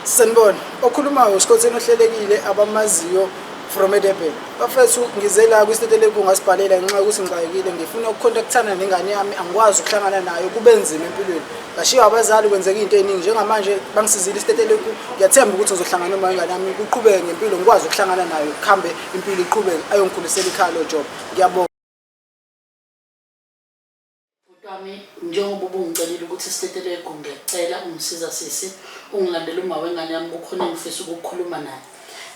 Sanibona, okhulumayo uSikhotheni ohlelekile abamaziyo from eDurban. Bafethu ngize la kwisitetelegu ngasibhalela ngenxa yokuthi ngixakekile ngifuna ukucontactana nengane yami angikwazi ukuhlangana nayo kube nzima empilweni. Ngashiywa abazali kwenzeka into eningi njengamanje bangisizile isitetelegu ngiyathemba ukuthi ngizohlangana noma ingane yami kuqhubeke ngempilo ngikwazi ukuhlangana nayo kuhambe impilo iqhubeke ayongikhulisela ikhaya lo job. Ngiyabonga. Bhuti wami njengoba ubungicelile ukuthi sitetele egumi ngiyacela ungisiza sisi ungilandele uma wengane yami kukhona engifisa ukukhuluma naye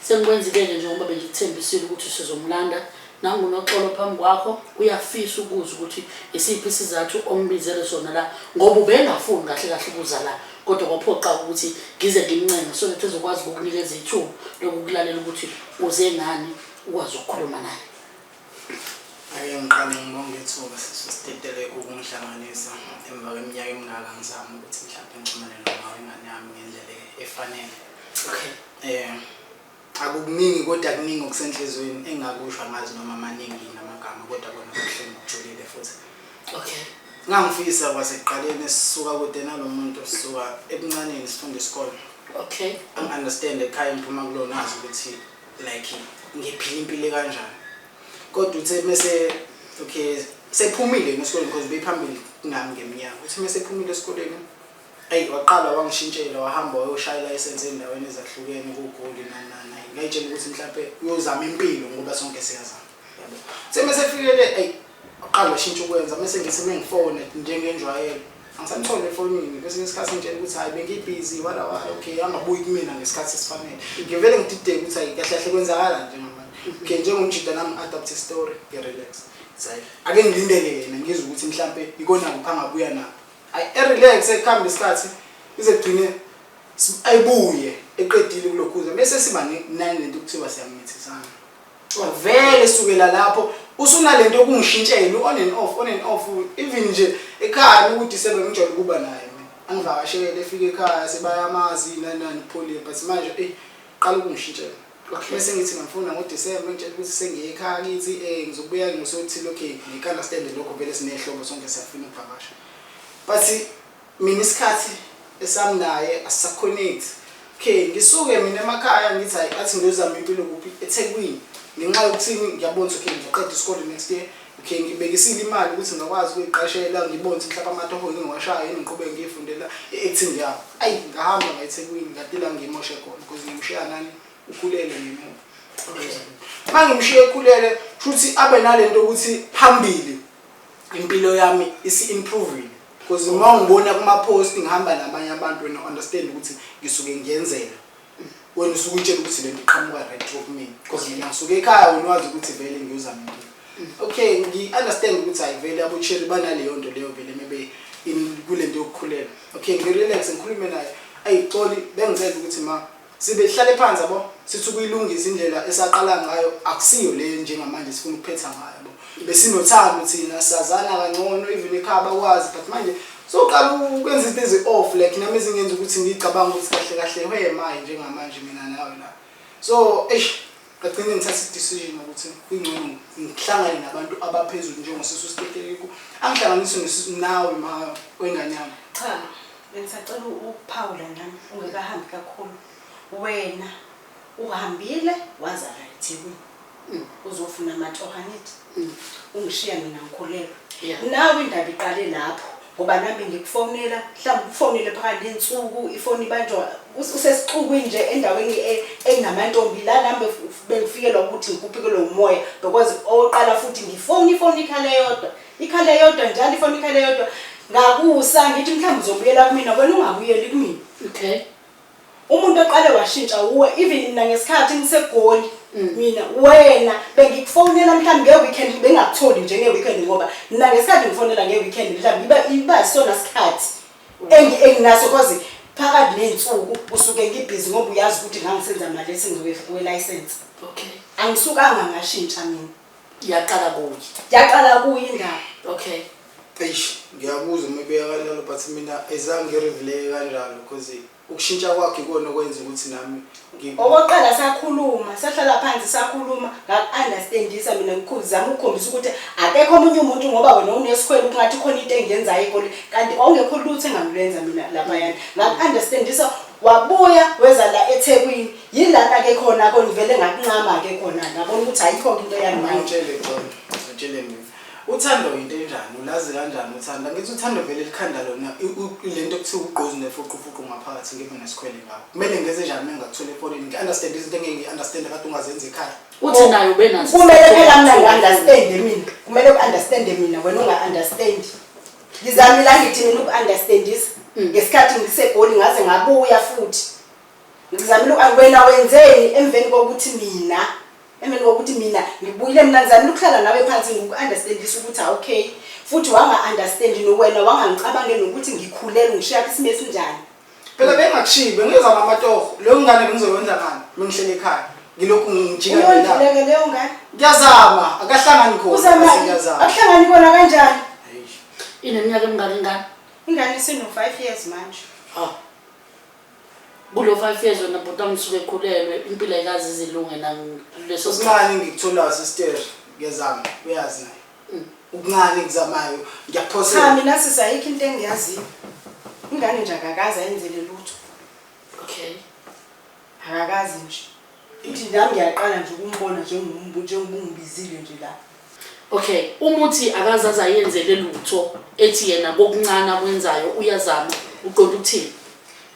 sengikwenzile-ke njengoba bengikuthembisile ukuthi sizomlanda nangunoxolo phambi kwakho uyafisa ukuza ukuthi isiphi isizathu ombizele sona la ngoba ubengafuni kahle kahle ukuza la kodwa kwaphoqa ukuthi ngize ngimncenge so that ezokwazi ukukunikeza ithuba lokukulalela ukuthi uze ngani ukwazi ukukhuluma naye Ake ngiqale ngibonge ithuba sisi Stetelegu ukungihlanganisa emva kweminyaka emingaka ngizama ukuthi mhlawumbe ngixhumane noma ingane yami ngendlela efanele. Okay. Eh akukuningi kodwa kuningi okusenhlizweni engakusho angazi noma maningi namagama kodwa kona kuhleni kujulile futhi. Okay. Ngangifisa kwasekuqaleni sisuka kude nalomuntu sisuka ebuncaneni sifunda isikole. Okay. Angi understand ekhaya ngiphuma kulona azi ukuthi like ngiphila impilo ekanjani kodwa uthe mese okay sephumile ngesikoleni because bephambili nami ngeminyaka uthi mese ephumile esikoleni ayi waqala wangishintshela wahamba wayoshaya ilayisensi endaweni ezahlukene kugoli nanana ngayitshela ukuthi mhlawumbe uyozama impilo ngoba sonke siyazama semesefikele eyi uqala washintsha ukwenza mese ngise mengifone njengenjwayelo angisamthole efonini kwesinye isikhathi ngitshela ukuthi hhayi bengibhizi wala wala okay angabuyi kumina ngesikhathi esifanele ngivele ngidideke ukuthi hhayi kahle kahle kwenzakala nje ngamanje okay njengomjida nami ngi-adapt istory ngi-relax zayi ake ngilindele yena ngizwe ukuthi mhlampe ikona kuphi angabuya nabo hhayi erelax ekuhamba isikhathi ize kugcine ayibuye eqedile kulokhuza bese siba nani lento kuthiwa siyamithisa Coz vele sukela lapho usunalento yokungishintshela u on and off on and off even nje ekhaya uma ukudisebe ngijwayele ukuba naye mina angivakashele efike ekhaya sebayamazi yini nani nani uphole but manje eyi qala ukungishintshela Okay. Bese ngithi ngimfuna ngoDecember ngitshela ukuthi sengiye ekhaya kithi eh ngizobuya ngosothile okay ngikala stand lokho vele sinehlobo sonke siyafuna ukuvakasha. But Mina isikhathi esami naye asisaconnect okay ngisuke mina emakhaya ngithi hayi athi ngiyozama impilo kuphi ethekwini ngenxa yokuthini ngiyabona ukuthi okay ngiqeda isikole next year okay ngibekisile imali ukuthi ngingakwazi ukuyiqashela ngibone ukuthi mhlawumbe amatoho ngiwashayo yini ngiqhubeke ngiyifundela i-acting yabo ayi ngahamba ngayithekwini ngadila ngiyimoshe khona because ngimshiya nani ukhulele ngemuva uma ngimshiye ekhulele futhi abe nalento ukuthi phambili impilo yami isi-improvile Cause uma ungibona kuma post ngihamba nabanye abantu wena understand ukuthi ngisuke ngiyenzela. Wena usuke utshela ukuthi lento iqhamuka right through me. Cause mina ngisuke ekhaya wena wazi ukuthi vele ngiyozama into. Okay, ngi understand ukuthi ayivele abucheri banaleyo nto leyo vele mebe in kulento yokukhulelwa. Okay, ngi relax ngikhulume naye. Ayixoli bengicela ukuthi ma Sibe sihlale phansi yabo sithi ukuyilungisa indlela esaqala ngayo akusiyo le njengamanje sifuna ukuphetha ngayo yabo. Besinothando thina sazana kangcono even ekhaya bakwazi but manje soqala ukwenza izinto ezi off like nami ezingenza ukuthi ngicabanga ukuthi kahle kahle where am I njengamanje mina nawe la. So eish Ekugcineni ngithatha i-decision ukuthi kungcono ngihlangane nabantu abaphezulu njengosisi usiteteleko angihlanganise nesi- nawe ma wengane yami Cha, bengisacela ukuphawula nami ungekahambi kakhulu. Wena uhambile wazala eThekwini. Uzofuna amatoha angithi. Mm. Ungishiya mina ngikhulelwe. Yeah. Nawe indaba iqale lapho ngoba nami ngikufonela mhlawumbe ukufonele phakathi nensuku ifoni ibanjwa usesixukwini nje endaweni e, enamantombi la nami bengifikelwa ukuthi ngikuphikelwe umoya because oqala futhi ngifoni ifoni ikhale yodwa ikhale yodwa njalo ifoni ikhale yodwa ngakusa ngithi mhlawumbe uzobuyela kumina wena ungabuyeli kumina okay Umuntu oqale washintsha uwe even mina ngesikhathi ngisegoli mm. mina wena bengikufonela mhlawumbe ngeweekend bengakutholi nje ngeweekend ngoba mina ngesikhathi ngifonela ngeweekend mhlawumbe iba iba isona sikhathi enginaso cause phakathi ney'nsuku usuke ngibhizi ngoba uyazi ukuthi ngangisenza mali esingiwelayisensi okay angisukanga ngashintsha mina yaqala kuye yaqala kuye indaba okay eish ngiyabuza uma ibeka kanjalo but mina ezange ngirivuleke kanjalo because ukushintsha kwakhe ikona okwenza ukuthi nami okokuqala sakhuluma sahlala phansi sakhuluma ngaku-understandisa mina ngizama ukukhombisa ukuthi akekho omunye umuntu ngoba wena unesikhwele ukungathi khona into engiyenzayo ikole kanti kwawungekho lutho engangilenza mina laphayana ngaku-understandisa wabuya weza la ethekwini Yilana ke khona ko ngivele ngakuncama ke khona ngabona ukuthi ayikho into yami manje. Ngitshele khona. Ngitshele mina. Uthando into enjani? Ulazi kanjani uthando? Ngithi uthando vele likhanda lona lento kuthiwa ugqozi nefuqufuqu ngaphakathi ngibe nesikhwele ngawo. Kumele ngenze njani mina ngakuthola efonini? Ngi understand izinto engeke ngi understand kade ungazenzi ekhaya. Uthi oh, nayo benazo. Kumele phela mina ngi understand mina. Kumele u understand mina wena unga understand. Ngizamile angithi mina uku understandisa. Mm. Ngesikhathi ngisegoli ngaze ngabuya futhi. Ngizamile uku- wena wenzeni emveni kokuthi mina emveni kokuthi mina ngibuyile mina ngizamile ukuhlala nawe phansi ngiku-understandisa ukuthi awukay futhi wanga-understand nowena wangangicabange nokuthi ngikhulelwe ngishiya kwisimo esinjani Phela bengakushiyi bengiyoza namatoho. Leyo ngane bengizoyondla ngani? Bengihlele ekhaya. Ngilokhu ngijika ngelanga. uyondluleke leyo ngane Ngiyazama, akahlangani khona. uzama bese Ngiyazama. akuhlangani kona kanjani Eish. Ineminyaka emingaki ingane? ingane isino-five years manje Ah, kulo five years wena bhuti wami suke ekhulelwe impilo ayikaze izilunge nakuleso okuncane ngikutholayo sister ngezama uyazi naye mm. ukuncane ngizamayo ngiyakuphosa cha mina sisi ayikho into engiyaziyo ingane nje akakazi ayenzele lutho okay akakazi nje Futhi nami ngiyaqala nje ukumbona njengombu njengoba ungibizile nje la. Okay, uma uthi akaze aze ayenzele lutho ethi yena kokuncane akwenzayo uyazama, uqonda ukuthini?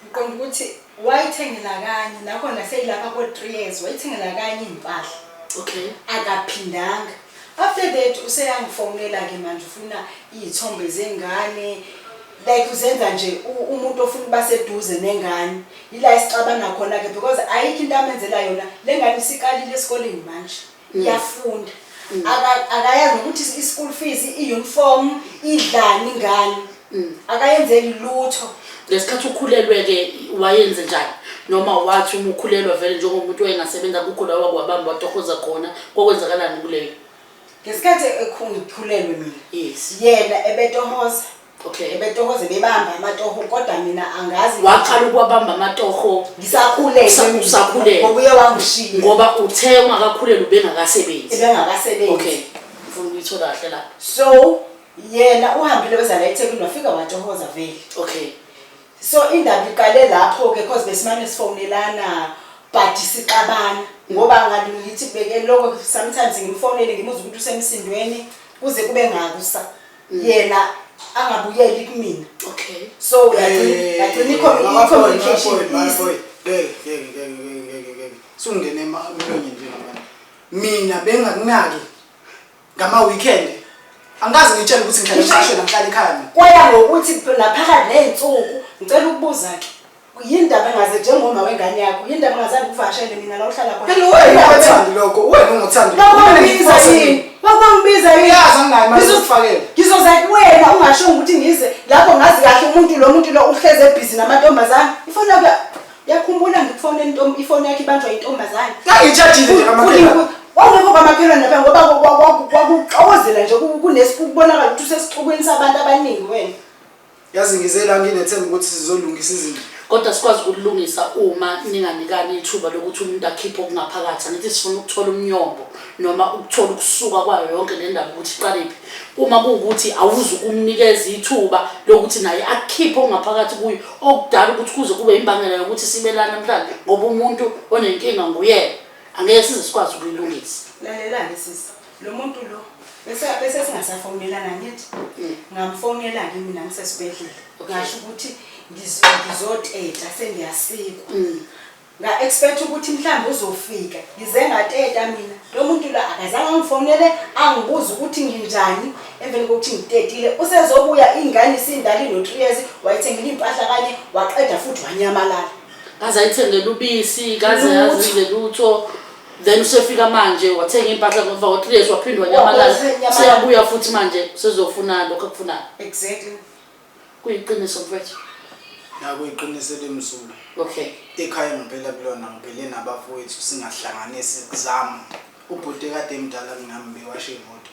Ngiqonda ukuthi wayithengela kanye nakhona seyilapha ko-three years wayithengela kanye iy'mpahla Okay. akaphindanga after that useyangifonela-ke manje ufuna iy'thombe zengane like uzenza nje umuntu ofuna ukuba seduze nengane yila isixabana khona ke because ayikho into amenzela yona le ngane isikalile esikoleni manje mm. iyafunda mm. akayazi nokuthi i-school fees i-uniform idlani ngane mm. akayenzeli lutho ngesikhathi ukhulelwe-ke wayenze njani noma wathi uma ukhulelwa vele njengomuntu wayengasebenza kukho la wakwabamba watohoza khona kokwenzakalani kuleyo ngesikhathi ekhulelwe mina yes yena ebetohoza okay ebetohoza bebamba amatoho kodwa mina angazi waqala ukuwabamba amatoho ngisakhulelwe Usa- mina. usakhulelwe. ngoba uye wangishiya ngoba uthe ungakakhulelwa ubengakasebenzi ebengakasebenzi okay ngifuna ukuyithola kahle lapho so yena uhambile weza la ethekwini wafika watohoza vele okay So indaba iqale lapho ke cause besimane sifonelana but sixabana ngoba ngathi ngithi kubeke lokho sometimes ngimfonele ngimuza ukuthi usemsindweni kuze kube ngakusa yena angabuyeli kumina okay so yagcina yagcina ikho i communication easy sungene emlonyeni njengamanje mina bengakunaki Ngama-weekend angikaze ngitshele ukuthi ngihlala esiteshini angihlala ekhaya mina. Kwaya ngokuthi naphakathi ney'nsuku ngicela ukubuza-ke yini ndaba engaze njengoma wengane yakho yini ndaba engazange ukuvakashele mina la uhlala khona Kanti wena ungothandi lokho, wena ungothandi lokho. Wabangibiza yini? Wabangibiza yini? Uyazi anginayo imali Ngizo- yokufakela. Ngizoza kuwena ungashongo ukuthi ngize lapho ngazi kahle umuntu lo muntu lo uhlezi ebhizi namantombazane. Ifoni yakho Yakhumbula ngikufona intombi ifoni yakhe ibanjwa intombazane. Ngangitshajile nje kamakhelwane. Wawungekho kamakhelwane lapha ngoba kwakuxokozela nje kunekubonakala ukuthi usesixukwini sabantu abaningi wena. Yazi ngize la nginethemba ukuthi sizolungisa izinto. Kodwa sikwazi ukulungisa uma ninganikani ithuba lokuthi umuntu akhiphe okungaphakathi. Angithi sifuna ukuthola umnyombo noma ukuthola ukusuka kwayo yonke le ndaba ukuthi iqalephi. Uma kuwukuthi awuzukumnikeza ithuba lokuthi naye akhiphe okungaphakathi kuyo okudala ukuthi kuze kube imbangela yokuthi sibelane namhlanje ngoba umuntu onenkinga nguyena angeke size sikwazi ukuyilungisa lalelani sisi lo muntu lo bese bese singasafonelana ngithi mm. ngamfonela ke mina ngisesibedlela ngasho ukuthi ngizoteta sengiyasikwa mm. Nga expect ukuthi mhlawumbe uzofika. Ngize ngateta mina. Lo muntu la akazange angifonele angibuze ukuthi nginjani emveni kokuthi ngitetile. Usezobuya ingane isindala ino 3 years wayithengile impahla kanye waqeda futhi wanyamalala. Kaze ayithengele ubisi, kaze Lutho. yazize lutho. Then usefika manje wathenga impahla ngoba wa 3 years waphindwa Wabuya nyamalala. senyamalala. Seyabuya futhi manje sezofuna lokho akufunayo. Exactly. Kuyiqiniso mfwethu. Nakuyiqiniso elimsulwa. Okay. Ekhaya ngiphela kulona ngiphele nabafowethu singahlanganisi kuzama. Ubhuti kade emdala kunami bewashe imoto.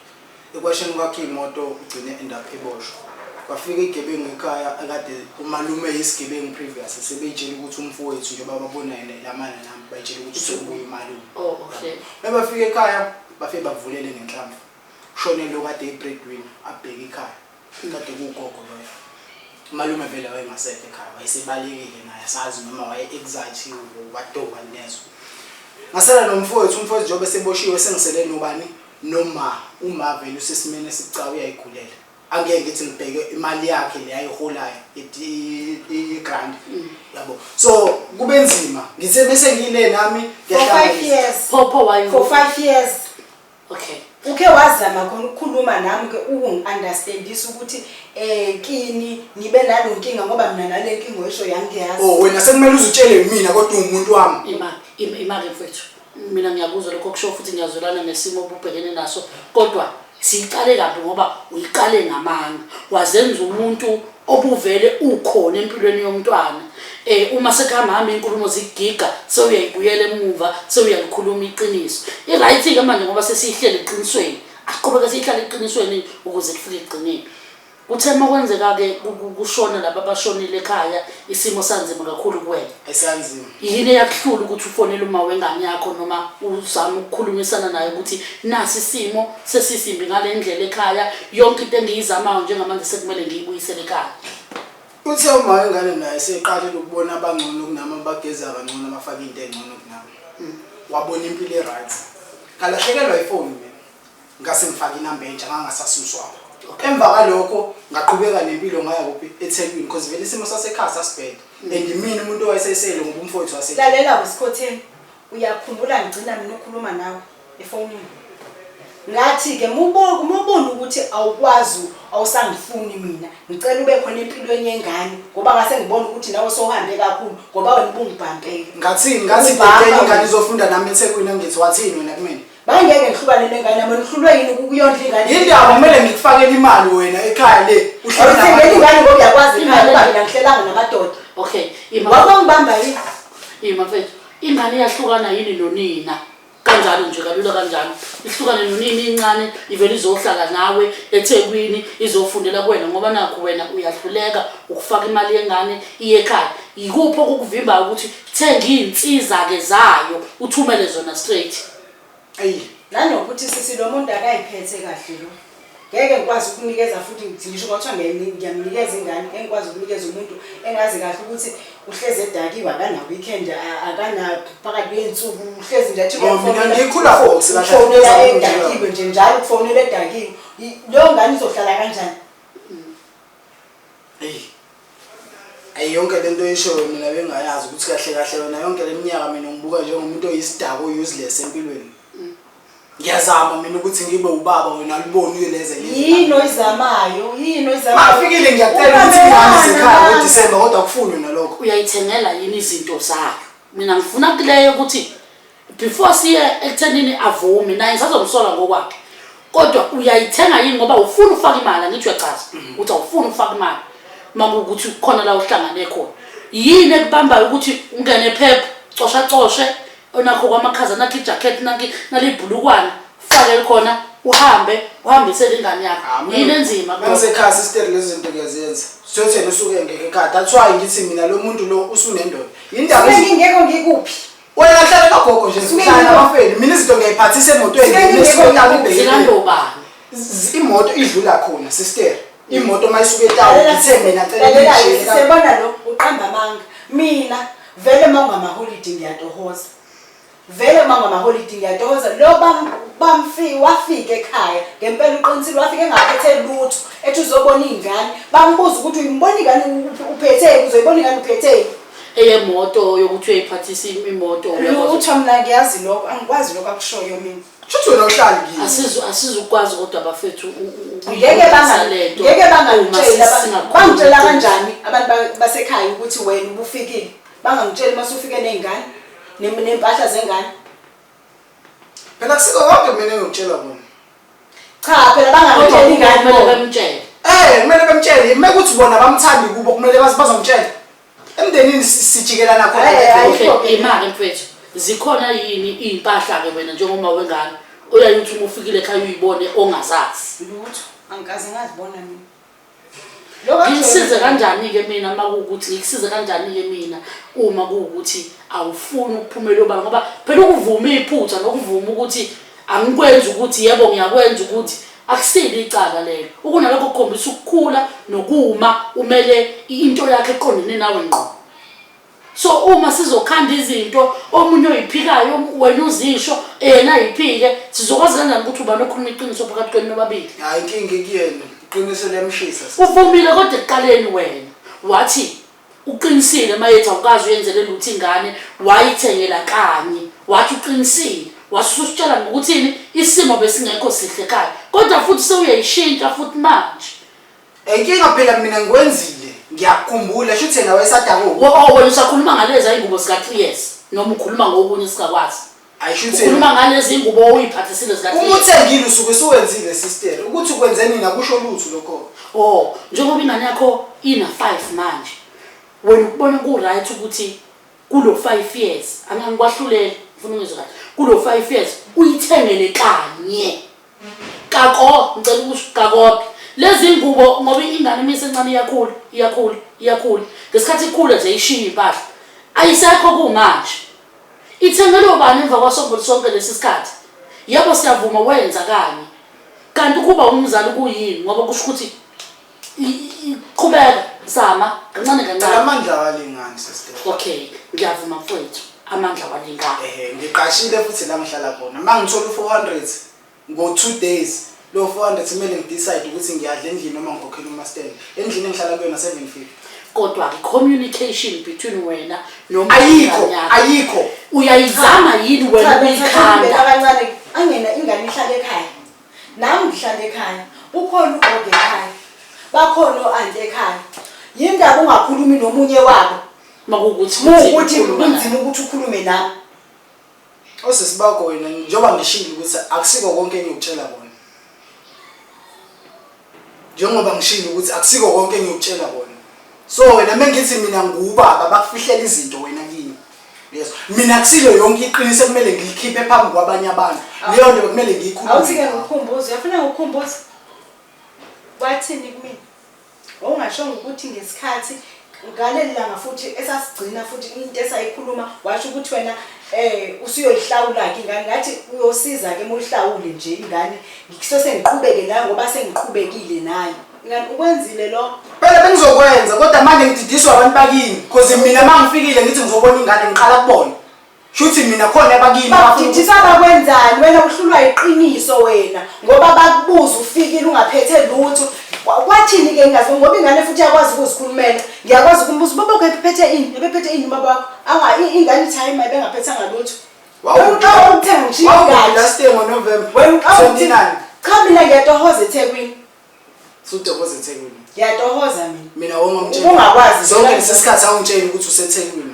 Ekwasheni kwakhe imoto ugcine end up eboshwa. Kwafika igebengu ekhaya akade umalume yisigebengu previous sebeyitshela ukuthi umfowethu njengoba babona yena ilamana nami bayitshela ukuthi sokubuya umalume. Oh okay. Mebafika ekhaya bafike bavulele ngenhlamvu. Shone lo kade ibreadwinner abheke ikhaya. Ingade kugogo loyo. Umalume vele wayengasekho ekhaya wayesebalekile naye asazi noma waye anxiety wadoba nezwe. Ngasala nomfowethu umfowethu njengoba eseboshiwe sengisele nobani noma uma vele usesimeni esibucayi uyayigulela. Angeke ngithi ngibheke imali yakhe le ayiholayo i-grant yabo. So kube nzima ngithe bese ngile nami For five ngiyahlangabeza. years. Phopho wayo. For five years. okay uke wazama khona ukukhuluma nami ke ukungiunderstandisa ukuthi eh kini ngibe nalo nkinga ngoba mina nale nkinga oyisho yangiyazi oh wena sekumele uzitshele mina kodwa ungumuntu wami ima ima ke mfethu mina ngiyakuzwa lokho kusho futhi ngiyazwelana nesimo obubhekene naso kodwa siyiqale kabi ngoba uyiqale ngamanga wazenza umuntu obuvele ukhona empilweni yomntwana um uma sekuhamba hamba iy'nkulumo zikugiga sewuyayibuyela emuva sewuyalikhuluma iqiniso i-right-ke manje ngoba sesiyihlele eqinisweni asiqhubeke siyihlale eqinisweni ukuze kufike ekugcineni kuthe uma kwenzeka-ke kushona laba abashonile ekhaya isimo sanzima kakhulu kuwena esanzima yini eyakuhlula ukuthi ufonele uma wengane yakho noma uzama ukukhulumisana naye ukuthi nasi isimo sesisimbi ngale ndlela ekhaya yonke into engiyizamayo njengamanje sekumele ngiyibuyisele ekhaya uthe uma wengane naye seqalile ukubona abangcono kunami abageza kangcono abafake into engcono kunami hmm. wabona impilo e-right ngalahlekelwa ifoni mina Ngase ngifake inamba entsha ngangasasuswa apho. Emva kwalokho ngaqhubeka nempilo ngaya kuphi eThekwini because vele isimo sasekhaya sasibheda mm. and imini umuntu owayesesele ngoba umfowethu wase Lalela wesikhotheni uyakhumbula ngigcina mina ukhuluma nawe efonini ngathi ke mubo mubona ukuthi awukwazi awusangifuni mina ngicela ube khona empilweni yengane ngoba ngase ngibona ukuthi nawe sohambe kakhulu ngoba wena ubungibhampele ngathi ngathi bhekeni ingane izofunda nami eThekwini ngithi wathini wena kumina Bangeke ngihlukane nengane yami nihlulwe yini ukuyondla ingane. Yindaba kumele ngikufakele imali wena ekhaya le. Uhlala ngeke ingane ngoba uyakwazi ekhaya ngoba mina ngihlelanga namadoda. Okay. Ngoba ngibamba yini? Yima mfethu. Ingane iyahlukana yini nonina? kanjalo nje kalula kanjalo ihlukane nonini incane ivele izohlala nawe ethekwini izofundela kuwena ngoba nakho wena uyahluleka ukufaka imali yengane iye ekhaya yikuphi okukuvimbayo ukuthi Thenga izinsiza ke zayo uthumele zona straight. Ayi, nanokuthi sisi lo muntu akayiphethe kahle lo. Ngeke ngikwazi ukunikeza futhi ngisho kwathiwa ngiyayi- ngiyamnikeza ingane engikwazi ukunikeza umuntu engazi kahle ukuthi uhlezi edakiwe akana weekend a- akana phakathi kwey'nsuku uhlezi nje athi Oh, mina ngikhula for sila ufonela hlangana nje. edakiwe nje njalo ukufonela edakiwe I- leyo ngane izohlala kanjani Eyi. Ayi yonke lento oyishoyo mina bengayazi ukuthi kahle kahle wena yonke leminyaka mina ngibuka njengomuntu oyisidako useless empilweni. Ngiyazama mina ukuthi ngibe ubaba wena liboni uyeleze lezi. Yini oyizamayo? Yini oyizamayo? Mafikile ngiyacela ukuthi ngihamba isikhala ngoDisemba kodwa kufunwe nalokho. Uyayithengela yini izinto zakhe? Mina ngifuna kuleyo ukuthi before siye ekuthenini avume naye ngisazomsola ngokwakhe kodwa uyayithenga yini ngoba ufuna ufaka imali angithi uyachaza mhm. ukuthi awufuni ufaka imali makuwukuthi khona la uhlangane khona yini ekubambayo ukuthi ungene phepha cosha coshe onakho kwamakhaza nakho ijacket nakho nalibhulukwana fake khona uhambe uhambisele ingane yakho ah, yini enzima kusekhaya sister lezinto kuyazenza sithotheni usuke ngeke ekhaya that's why ngithi mina lo muntu lo usunendoda yindaba ngeke ngikuphi Wena hlala nogogo nje sihlala nabafeni. Mina izinto ngiyayiphathisa emotweni. Imoto idlula khona sister. Imoto mayisuke etawu ngithe mina cela ngishele. Sibona lo uqamba amanga. Mina vele mawungama holiday ngiyatohoza. Vele mawungama holiday ngiyatohoza. Lo bam bamfi wafika ekhaya ngempela uqinisile wafika engaphethe lutho ethi uzobona ingane. Bambuza ukuthi uyimbona ingane uphetheni uzoyibona ingane uphetheni. eyemoto yokuthi uyayiphathisa im- imoto uyakwazi- lutho mna ngiyazi lokho angikwazi lokho akushoyo mina Shuthi wena uhlali kimi. Asizu- asizukwazi kodwa bafethu u- u- u- ngeke ukuyilungisa banga- le nto ngeke uma bangangitsheli aba- singakhulumi bangitshela iqiniso. kanjani abantu ba- basekhaya ukuthi wena ubufikile bangangitsheli uma sufike ney'ngane nem- ney'mpahla zengane Phela kusiko konke mina engikutshela kona. Cha phela bangamtsheli ingane kumele bemtshele. Eh kumele bemtshele uma kuthi bona bamthandi kubo kumele bazomtshela. Emndenini sijikelana khona ngeke. Imali mfethu zikhona yini izimpahla ke wena njengoba wengane oyaye uthi uma ufikile ekhaya uyibone ongazazi. Lutho angikaze ngazibona mina. ngikusize kanjani-ke mina uma kuwukuthi ngikusize kanjani-ke mina uma kuwukuthi awufuni ukuphumela obala ngoba phela ukuvuma iphutha nokuvuma ukuthi angikwenzi ukuthi yebo ngiyakwenza ukuthi akusile icala lelo ukunalokho kukhombisa ukukhula nokuma umele into yakhe eqondene nawe ngqo so uma sizokhanda izinto omunye oyiphikayo wena uzisho yena ayiphike sizokwazi kanjani ukuthi ubani okhuluma iqiniso phakathi kwenu nobabili hayi inkinga ikuyena iqiniso liyamshisa uvumile kodwa ekuqaleni wena wathi uqinisile mayethi awukazi uyenzele lutho ingane wayithengela kanye wathi uqinisile wasusitshela ngokuthini isimo besingekho sihle kanye kodwa futhi sewuyayishintsha futhi manje Inkinga phela mina ngikwenzile ngiyakukhumbula shuthi yena wayesadakuphi Wo- oh, wena usakhuluma ngalezi ayingubo zika-three years noma ukhuluma ngokunye singakwazi ayi shuthi ukhuluma yena ngalezi ngubo oyiphathisile uma zika-three years uthengile usuke suwenzile sister ukuthi ukwenze nina kusho lutho lokho o njengoba ingane yakho ina-five manje wena ukubona ku-right ukuthi kulo five years angangikwahluleli ngifuna ungizwe kahle kulo five years uyithengele kanye Kako, ngicela ukusho kakoke. Lezi ngubo ngoba ingane uma isencane iyakhula, iyakhula, iyakhula. Ngesikhathi ikhula nje ishiya impahla. Ayisekho kumanje. Ithengelwe ubani emva kwasongo sonke lesi sikhathi? Yebo siyavuma wenza kanye. Kanti ukuba umzali kuyini ngoba kusho ukuthi Qhubeka zama kancane kancane. Amandla awalingani sister. Okay, ngiyavuma mfowethu. Amandla awalingani. Eh, ngiqashile futhi la ngihlala khona. Mangithola u400 ngo 2 days. Lo 400 kumele ngidecide ukuthi ngiyadla endlini noma ngikhokhela umaster. Endlini engihlala kuyona 750. kodwa ke communication between wena noma ayikho ayikho uyayizama yini wena uyikhanda abancane angena ingane ihlale ekhaya Nami ngihlala ekhaya, ukhona ugogo ekhaya, bakhona o-anti ekhaya. Yini ndaba ungakhulumi nomunye wabo? Makuwukuthi Muwukuthi ukhuluma naye. kunzima ukuthi ukhulume nami. Osisi bakho wena njengoba ngishilo ukuthi akusiko konke engikutshela kona. Njengoba ngishilo ukuthi akusiko konke engiyokutshela kona. So wena mengithi mina ngubaba bakufihlela izinto wena kimi. Uyezwa? Mina kusilo yonke iqiniso ekumele ngilikhiphe phambi kwabanye abantu. Leyo nto bekumele ngiyikhulume. Awuthi-ke nawe. ngikhumbuze uyafuna ngikukhumbuze wathini kumina wawungashongo ukuthi ngesikhathi ngaleli langa futhi esasigcina futhi into esayikhuluma washo ukuthi wena eh usuyoyihlawula-ke ingane ngathi uyosiza-ke uma uyihlawule nje ingane ngikuse sengiqhubeke nayo ngoba sengiqhubekile nayo ingane ukwenzile lo phela bengizokwenza kodwa manje ngididiswa abantu bakini cause mina uma ngifikile ngithi ngizobona ingane ngiqala kubona Shuthi mina khona abakini Bakudidisa bakwenzani wena uhlulwa yiqiniso wena ngoba bakubuza ufikile ungaphethe lutho. Kwa- Kwathini ke ngazi ngoba ingane futhi yakwazi ukuzikhulumela. Ngiyakwazi ukumbuza ubaba wakho ephethe ini? Ebephethe ini ubaba wakho? Anga i- ingane ithi hayi mayibe ngaphethanga lutho. Wena uqala ukuthenga ngishiye Wawubi ingane. last year ngoNovember Wena uqala ukuthi 29 cha mina ngiyatohoza eThekwini. sudokoza eThekwini. Ngiyatohoza mina. Mina wongomtshela. Ubungakwazi Zonke vele. lesi sikhathi awungitsheli ukuthi useThekwini.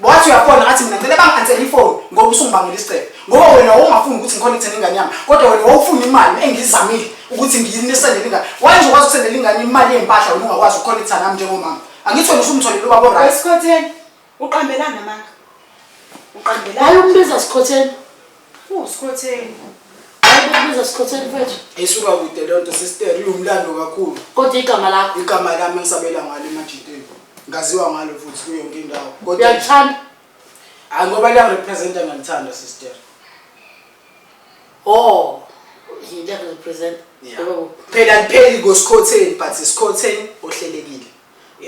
Wathi uyafona ngathi mina ngicela bangi-ansele ifoni ngoba usungibangela isicelo ngoba wena wawungafuni ukuthi ngikhonekthele ingane yami kodwa wena wawufuna imali engiyizamile ukuthi ngiyinisendele ingane waye nje ukwazi ukusendela ingane imali yempahla wena ungakwazi ukukhonektha nami njengomama angithi wena usumtholile ubaba orit Wesikhotheni, uqambelana manga. Uqambelana. Hayi umbiza sikhotheni. Phu Skhotheni. Hayibuza Skhotheni mfethu. Isuka kude lento sister iwumlando kakhulu. Kodwa igama lakho. Igama lami ngisabela ngalo emajiteni. Ngaziwa ngalo futhi kuyo yonke indawo. Kodwa uyalithanda. Hayi ngoba liya represent ngiyalithanda sister. Oh. Yinto represent. Phela lipheli ngoSkhotheni but Skhotheni ohlelekile.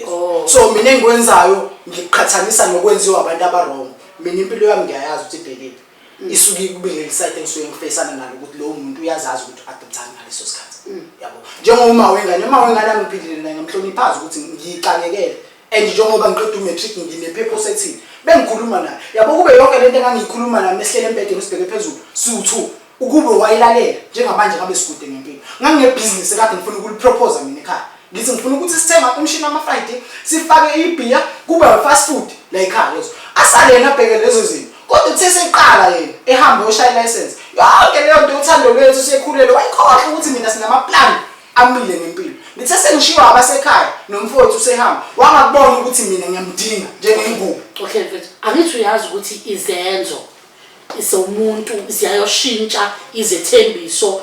Oh. so mina engikwenzayo ngiqhathanisa nokwenziwa abantu abarong mina impilo yami ngiyayazi ukuthi ibhekephi mm. isuke ikubile lisayite engisuke ngifeyisana nalo ukuthi lowo muntu uyazazi ukuthi u-adoptani ngaleso sikhathi mm. yabo njengoma wengane uma wengane angiphilile naye ngamhloniphazi ukuthi ngiyixakekele and njengoba ngiqeda umatric nginephephosi ethini bengikhuluma naye yabo kube yonke le nto engangiyikhuluma naye mehlele embedeni sibheke phezulu siwu-two Ukube wayilalela njengamanje ngabe sikude ngempilo. Nganginebhizinisi ekade ngifuna ukuliprophoza mina ekhaya. Ngithi ngifuna ukuthi sithenge umshini wama-Friday, sifake ibhiya, kube yi-fast food la ekhaya lezo. Asale yena abheke lezo zinto. Kodwa uthe seqala yena ehambe oshaya ilayisensi. Yonke leyo nto uthando lwethu sekhulelwe wayikhohlwa ukuthi mina sinamaplani amile ngempilo. Ngithe sengishiwa abasekhaya nomfowethu usehamba wangakubona ukuthi mina ngiyamdinga njengengubo. Okay mfethu, angithi uyazi ukuthi izenzo zomuntu ziyayoshintsha izethembiso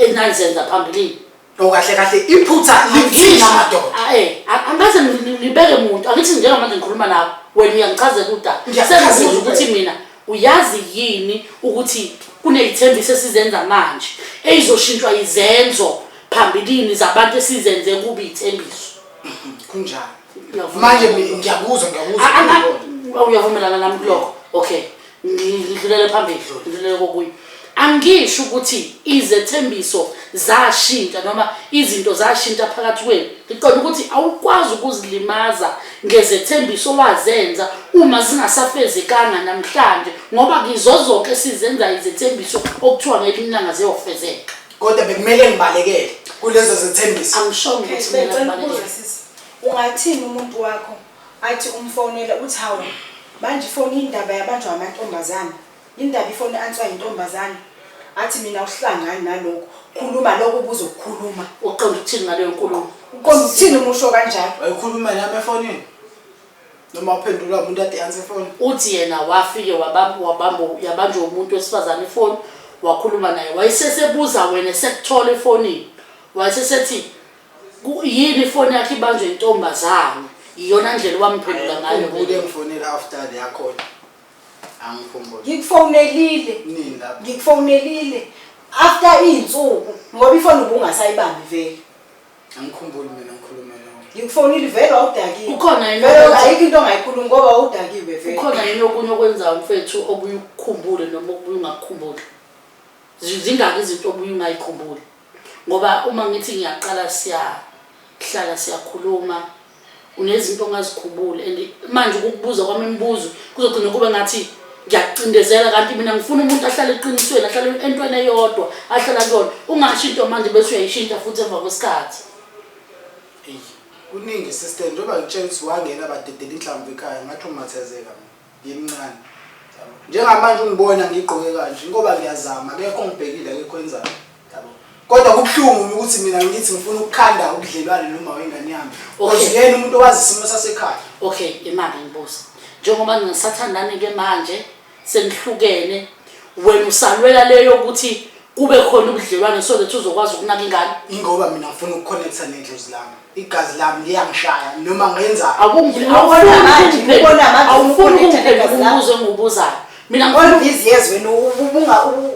enanizenza phambilini okahle kahle iphutha lithina madoda ah, eh, angaze ngibeke muntu angithi njengamanje ngikhuluma nawe wena uyangichazela udaba sengibuza ukuthi mina uyazi yini ukuthi kuney'thembiso esizenza manje eyizoshintshwa izenzo phambilini zabantu esizenze kubi iy'thembiso kunjalo manje ngiyakuzwa ngiyakuzwa uyavumelana nami kulokho okay ngidlulele phambili dlula ngidlulele kokunye angisho ukuthi izethembiso zashintsha noma izinto zashintsha phakathi kwenu ngiqonda ukuthi awukwazi ukuzilimaza ngezethembiso owazenza uma zingasafezekanga namhlanje ngoba ngizozonke sizenza izethembiso okuthiwa ngelinye ilanga ziyofezeka kodwa bekumele ngibalekele kulezo zethembiso angishongo ukuthi mina ngibalekele Ungathini umuntu wakho athi umfonela uthi hawu manje ifoni indaba yabanjwa amantombazane indaba ifoni answa yintombazane athi mina uhlangani nalokho khuluma lokho ubuzo kukhuluma uqonda ukuthini ngaleyo nkulumo uqonda ukuthini umusho kanjalo wayikhuluma nami efonini noma uphendula umuntu ade yansi efoni uthi yena wafike wabamba wabamba yabanjwa umuntu wesifazane ifoni wakhuluma naye wayesesebuza wena sekuthola efonini wayesesethi Ku yini ifoni yakhe ibanjwe intombazane? Iyona ndlela owamphendula ngayo. Angikhumbule ngifonela after le yakhona. Angikhumbule. Ngikufonelile. Nini lapho? Ngikufonelile. After izinsuku ngoba ifoni ubungasayibambi vele. Angikhumbuli mina ngikhuluma nawe. Ngikufonile vele wawudakiwe. Ukhona yini Vele okunye- ayikho into ongayikhulumi ngoba wawudakiwe vele. Ukhona yini okunye okwenzayo mfethu obuye ukukhumbule noma obuye ungakukhumbuli? Zi- Zingaki izinto obuye ungayikhumbuli? ngoba uma ngithi ngiyaqala siyahlala siyakhuluma unezinto ongazikhubuli and manje ukukubuza kwami imibuzo kuzogcina kube ngathi ngiyacindezela kanti mina ngifuna umuntu ahlale eqinisweni ahlale entweni eyodwa ahlala kuyona ungasho into manje bese uyayishintsha futhi emva kwesikhathi kuningi sister njengoba ngitshela ukuthi wangena badedela inhlamvu ekhaya ngathi umathezeka ngimncane njengamanje ungibona ngigqoke kanje inkoba ngiyazama akekho ngibhekile akekho enzayo yabo kodwa kubuhlungu ukuthi mina ngithi ngifuna ukukhanda ubudlelwane noma wengane yami because yena umuntu owazi isimo sasekhaya okay imali ngibuza njengoba ngingasathandani ke manje senihlukene wena usalwela leyo ukuthi kube khona ubudlelwane so that uzokwazi ukunaka ingane ingoba mina ngifuna ukuconnecta nedlozi lami igazi lami liyangishaya noma ngenzaawufuni ukungibuza engiwubuzayo mina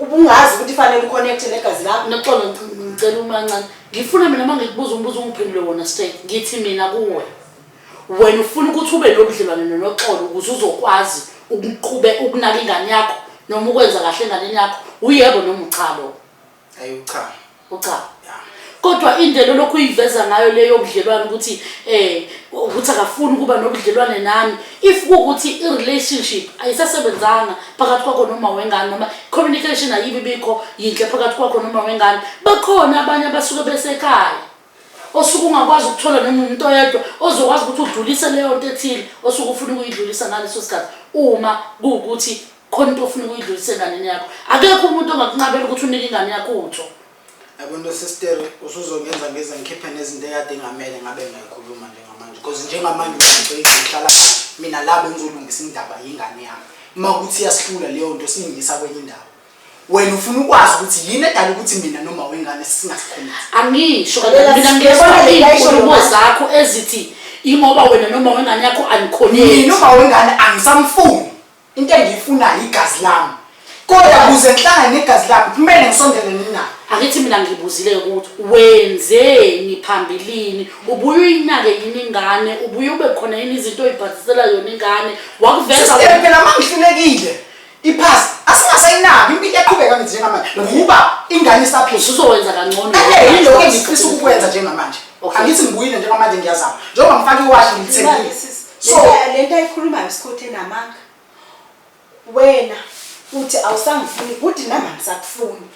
ubungazi ukuthi fanele uconnecte negazi lami naxolo ngicela umancane ngifuna mina uma ngikubuza umbuzo ungiphendule wona straight ngithi mina kuwe wena ufuna ukuthi ube nobudlelwane nonoxolo ukuze uzokwazi ukuqhube ukunaka ingane yakho noma ukwenza kahle enganeni yakho uyebo noma uchalo ayi ucha ucha kodwa indlela lokhu uyiveza ngayo leyo budlelwane ukuthi eh ukuthi akafuni ukuba nobudlelwane nami if kuwukuthi i-relationship ayisasebenzanga phakathi kwakho noma wengane noma communication ayibi bikho yinhle phakathi kwakho noma wengane bakhona abanye abasuke besekhaya osuke ungakwazi ukuthola noma umuntu oyedwa ozokwazi ukuthi udlulise leyo nto ethile osuke ufuna ukuyidlulisa ngaleso sikhathi uma kuwukuthi khona into ofuna ukuyidlulisa enganeni yakho akekho umuntu ongakunqabela ukuthi unike ingane yakho utho yabona sister usuzongenza ngeze ngikhiphe nezinto ekade engamele ngabe ngiyayikhuluma njengamanje because njengamanje ngihlala mina labo ngizolungisa indaba yengane yami uma kuthi iyasihlula leyo nto siyingisa kwenye indawo wena ufuna ukwazi ukuthi yini edala ukuthi mina noma wengane singasikhombisi angisho Lalela, mina sibona ngiyezwa le layisho iy'nkulumo lomama. zakho ezithi ingoba wena noma wengane yakho mina anikhoneki uma wengane angisamfuni into engiyifunayo igazi lami kodwa kuze ngihlangane negazi lami kumele ngisondelene nayo angithi mina ngibuzile ukuthi wenzeni phambilini ubuye uyinake yini ingane ubuye ube khona yini izinto oyibhadisela yona ingane wakuveza Sister, wena phela uma ngihlulekile Iphasi asingasayinaki impilo iyaqhubeka ngithi njengamanje ngoba ingane isaphila. Usuzowenza kangcono. Eh yiloko engifisa ukukwenza njengamanje. Okay. Angithi ngibuyile njengamanje ngiyazama. Njengoba ngifaka iwashi ngilithengile. So lento ayikhulumayo isikhothi enamanga. Wena uthi awusangifuni bhuti nami angisakufuni.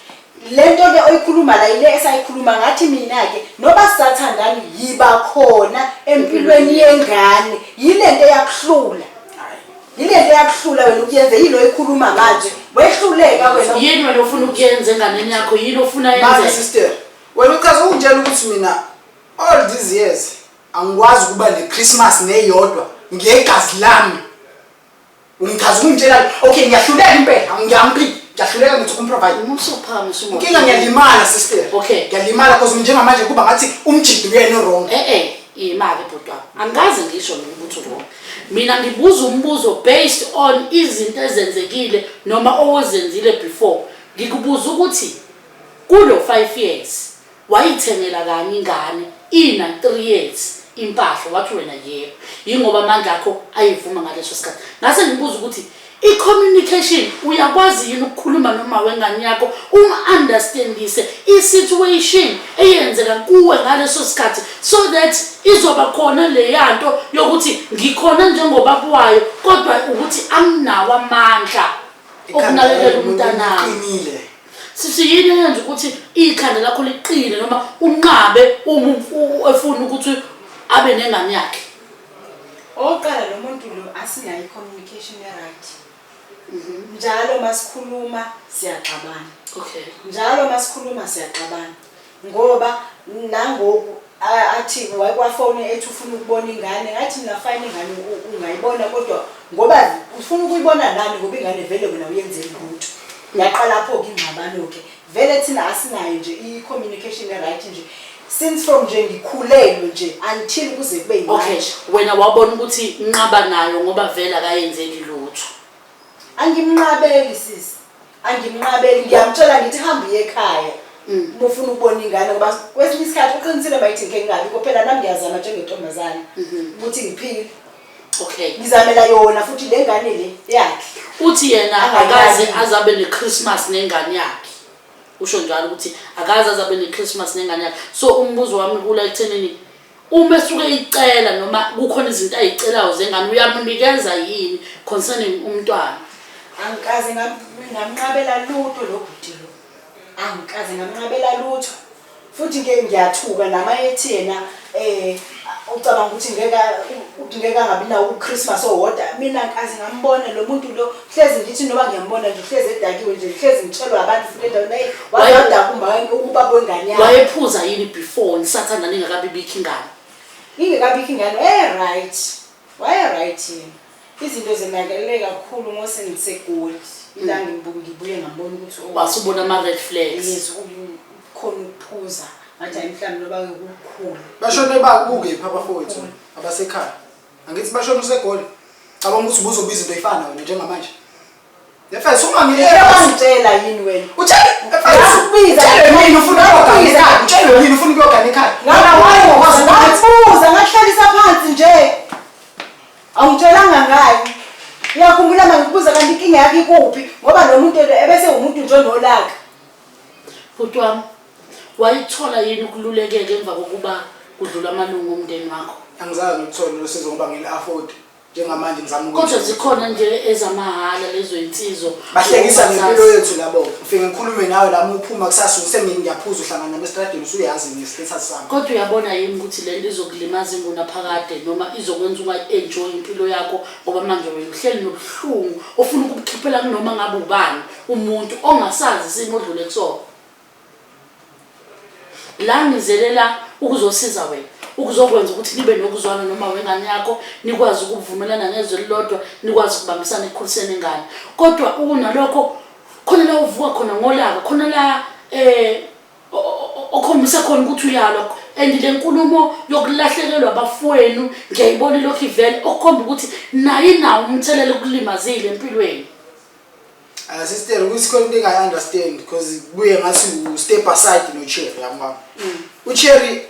Le nto ke oyikhuluma la yile esayikhuluma ngathi mina-ke noba sisathandani yiba khona empilweni yengane yile nto eyakuhlula yile nto eyakuhlula wena ukuyenze yini oyikhuluma manje wehluleka wena yini wena ofuna ukuyenza enganeni yakho yini ofuna Manje yenze sister, wena uchaza ungitshela ukuthi mina all these years angikwazi ukuba ne-Christmas neyodwa ngegazi lami. Ungichaza ungitshela okay ngiyahluleka impela ngiyamphika ngiyahluleka ngithi umprovide. Umusophama usumo. Inkinga ngiyalimala sister. Okay. Ngiyalimala because njengamanje kuba ngathi umjidi uyena wrong. Eh eh imali bhuti wami angikaze ngisho mina ukuthi wrong mina ngibuza umbuzo based on izinto ezenzekile noma owozenzile before ngikubuza ukuthi kulo 5 years Wayithengela kanye ingane ina three years impahla wathi wena yebo yingoba amandla akho ayivuma ngaleso sikhathi ngase ngibuza ukuthi i-communication uyakwazi yini ukukhuluma noma wengane yakho umu-understandise i-situation eyenzeka kuwe ngaleso sikhathi so that izoba khona leya nto yokuthi ngikhona njengobaba wayo kodwa ukuthi anginawo amandla okunakekela umntanami sisi yini eyenza ukuthi ikhanda lakho liqine noma unqabe uma efuna ukuthi abe nengane yakhe oqala lo muntu lo asinayo i-communication e-right mhm. njalo masikhuluma siyaxabana okay njalo masikhuluma siyaxabana ngoba nangoku athi wayekwafoni ethi ufuna ukubona ingane ngathi mina fine ingane ungayibona kodwa ngoba ufuna ukuyibona nani ngoba ingane vele wena uyenzeli lutho yaqala pho ke ingxabano ke vele thina asinayo nje i-communication e-right nje since from nje ngikhulelwe nje until kuze kube okay wena wabona ukuthi nqaba nayo ngoba vele akayenzeli lutho angimnqabeli sisi angimnqabeli ngiyamtshela ngithi hambe uye ekhaya mm. uma ufuna ukubona ingane ngoba kwesinye isikhathi uqinisile uma yithi ngike ngingabi kophela nami ngiyazama njengentombazane mm-hmm. ukuthi ngiphile okay ngizamela yona futhi le ngane le yakhe uthi yena akaze azabe ne-christmas nengane yakhe usho njalo ukuthi akaze azabe ne-christmas nengane yakhe so umbuzo wami kula ekuthenini uma esuke eyicela noma kukhona izinto ayicelayo zengane uyamunikeza yini concerning umntwana angikaze ngamnqabela lutho lo bhuti lo angikaze ngamnqabela lutho futhi ke ngiyathuka nama ethi yena eh ucabanga ukuthi ngeke ngeke angabi nawo uChristmas owodwa mina ngikaze ngambona lo muntu lo hlezi ngithi noma ngiyambona nje hlezi edakiwe nje hlezi ngitshelwa abantu futhi endaweni naye wayedakumba ubaba wengane yakhe wayephuza yini before nisathanda ningakabibikho ingane ingekabikho ingane waye-right waye-right yena izinto zenakele kakhulu ngose ngisegoli ilanga mm. ngibuye ngambona ukuthi oh, wasubona ama-red flags yes khona ukuphuza ngathi ayi mhlawumbe loba-ke kukhulu bashone bakukephi abafowethu abasekhaya angithi bashona usegoli cabanga ukuthi ubuzobuya izinto ey'fana wena njengamanje nefes ungangiyewangitshela yini wena utsheleini ufuna ukuyoganikhaya utsheleini ufuna ukuyoganikhaya ngabuza ngakuhlalisa phansi nje awungitshelanga ngayo uyakhumbula ma ngikubuza kanti inkinga yakho ikuphi ngoba lo muntu ebese wumuntu njenolaka bhuti wami Wayithola yini ukululekeka emva kokuba kudlula amalungu omndeni wakho? Angizange ngilithole lolu sizo ngoba ngili-afford njengamanje ngizama uku- Kodwa zikhona nje ezamahhala lezo insizo. bahlekisa Uma ngempilo zazi- yethu labo ngifike ngikhulume nawe lami uphuma kusasa usengini ngiyaphuza uhlangana nami esitradini usuyazi nge-status sami Kodwa uyabona yini ukuthi le nto izokulimaza ingunaphakade noma izokwenza ungayi-enjoy impilo yakho ngoba manje wena uhleli nobuhlungu ofuna ukubukhiphela kunoma ngabe ubani umuntu ongasazi isimo odlule kusona. la ngizele la ukuzosiza wena ukuzokwenza ukuthi nibe nokuzwana noma wengane yakho nikwazi ukuvumelana ngezwe elilodwa nikwazi ukubambisana ekukhuliseni ingane kodwa ukunalokho khona la uvuka khona ngolaka khona la eh okhombisa khona ukuthi uyalwa and le nkulumo yokulahlekelwa abafowenu ngiyayibona ilokhu ivele okukhomba ukuthi naye nawo umthelela ukulimazile empilweni Uh, sister kuyisikho into engayi-understand because kubuye ngathi u-step aside nocherry yabona mm. ucherry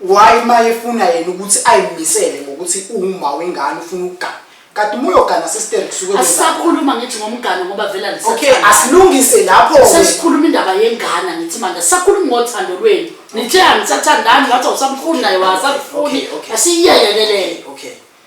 why ma efuna yena ukuthi ayimisele ngokuthi uwuma wengane ufuna ukugana kanti uma uyogana sister kusuke asisakhuluma ngithi ngomgane ngoba vela okay asilungise lapho sesikhuluma indaba yengana ngithi manje sakhuluma ngothando lwenu nithe angithathandani ngathi awusamfuni naye wasakufuni asiyiyekeleyo okay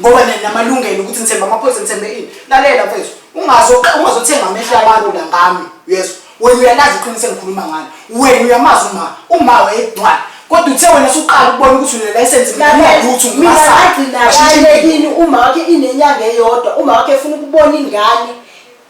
ngoba namalungelo ukuthi ngithembe amaphoyisa ngithembe ini lalela mfethu ungazothenga amehlo abantu la ngami yeso wena uyalazi iqiniso engikhuluma ngalo wena uyamazi uma uma wayedwala kodwa uthe wena suqala ukubona ukuthi unelayisensi ngiyakuthu ngimagcinakini uma wakhe inenyanga eyodwa uma wakhe efuna ukubona ingane